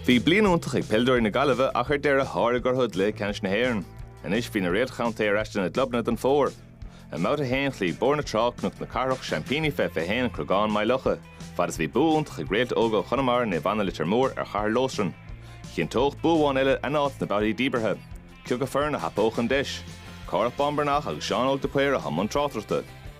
Bhí bliain iontach ag peileadóirí na Gaillimhe ach ar deireadh sháraigh orthu i gcluiche ceannais na hÉireann. Anois bhí na réalta contae ar ais lena gclubanna don fómhar. I mbabhta a haon chloígh Bóthar na Trá Cnoc na Cathrach, seaimpíní fé 21 an Creagán, Maigh Locha, fad is a bhí bua iontach ag réalta óga Chonamara, Naomh Anna Leitir Móir, ar Chathair Loistreáin. Chinnteodh bua amháin eile a n-áit sna babhtaí díbeartha. Cé acu foireann a thapódh an deis? Cárthach Bán Breathnach agus Seán Óg de Paor atá i mbun tráchtaireachta.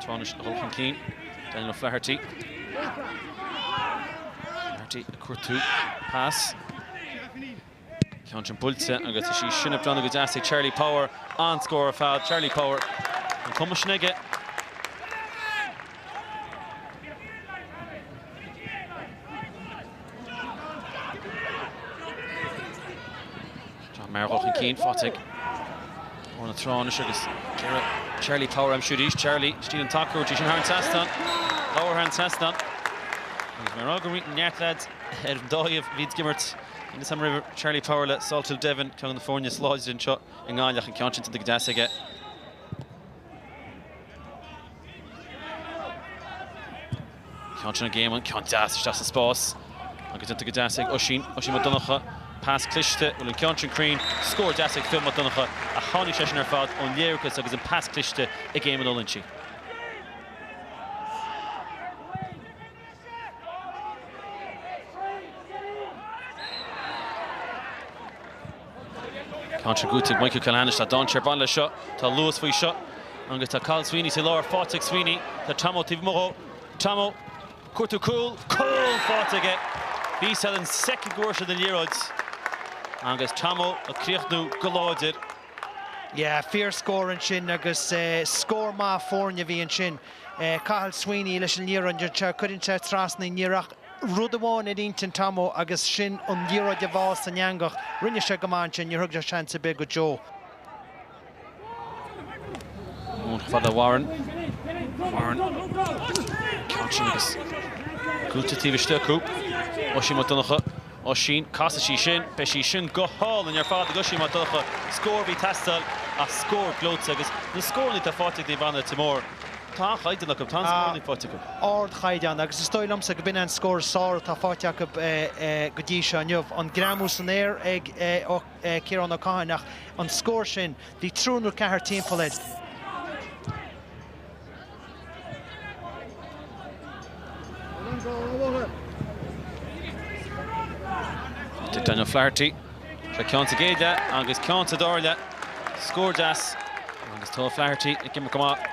Trá anois a dhul chun cinn. Daniel O'Flaherty. O'Flaherty ag cuartú. Pas. Ceann sin buailte agus tá sí sin ag breathnú go deas ag Charlie Power. An-scór ar fad. Charlie Power an cumas sin aige. John Maher ag dul chun cinn, faighte ag Bóthar na Trá anois agus deireadh Charlie Power ansiúd arís. Charlie, stíl an tsacair aige sin thar an seastán. Labhair thar an seastán. Agus mar a raibh neart leaids ar an dá thaobh, leads ag imirt sacar roimhe, Charlie Power le Salthill Devon, ceann de na foirne is láidre anseo i nGaillimh ach an ceann sin tógtha go deas aige. Ceann sin ag Éamonn, ceann deas isteach sa spás agus déanta go deas ag Oisín, Oisín Mac Donnacha, pas cliste, an bhfuil an ceann sin cruinn, scór deas ag Fionn Mac Donnacha ach tháinig sé sin ar fad ón léargas agus an pas cliste ag Éamonn Ó Loinsigh. Chun tosaigh go dtí Mikey Culhane anois, tá dainséar ag baint leis seo. Tá luas faoi seo. Agus tá Cathal Sweeney sa lár, faighte ag Sweeney. Tá Tomo taobh amuigh dhó. Tomo ag cuartú cúl, cúl! Faighte aige. Bhí a fhios ón soicind go bhfuair sé an liathróid. Agus Tomo ag críochnú go láidir. Yeah, fíor scór ansin agus scór maith foirne a bhí ansin. Cathal Sweeney leis an liathróid anseo, cuireann sé trasna í, ní raibh ach Rud amháin ar intinn Tomo agus sin an liathróid a bhá san eangach. Rinne sé go maith ansin, níor thug sé seans ar bith go deo. Ón fad le Warren. Warren. Ceann sin scaoilte taobh istigh acu. Oisín Mac Donncha. Oisín. Casfaidh sí sin. Beidh sí sin go hálainn ar fad ag Oisín Mac Donncha. Scór a bhí ag teastáil ach scór gleoite agus na scóranna atá faighte ag Naomh Anna Leitir Móir. Tá an-chaighdeán acu, tá an-scór faighte acu. Ardchaighdeán agus is dóigh liomsa go b'in é an scór is fearr atá faighte acu go dtí seo inniu. An greamú san aer ag Ciarán Ó Catháin ach an scór sin, bhí triúr nó ceathrar timpeall air. Tig Daniel O'Flaherty le ceann sa gcéad leath agus ceann sa dara leath. Scór deas agus tá O'Flaherty ag imirt go maith.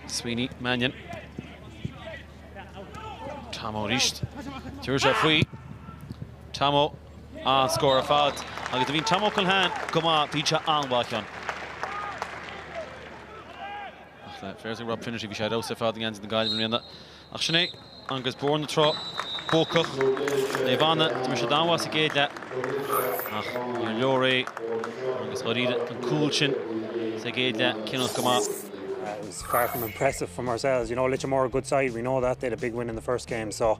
Sweeney, Mannion. Tomo arís. Tabharfaidh sé faoi. Tomo An-scór ar fad agus nuair a bhíonn Tomo Culhane go maith, bíonn sé an-mhaith ann. Ach le féirs ag Rob Finnerty, bhí sé ar fheabhas ar fad i ngeansaí na Gaillimhe i mbliana. Ach sin é, agus Bóthar na Trá buacach, Naomh Anna, d'imir siad an-mhaith sa gcéad leath ach níor leor é agus dháiríre an cúl sin sa gcéad leath cinniúnach go maith. It was far from impressive from ourselves. You know, Leitir Móir are a good side. We know that. They had a big win in the first game. So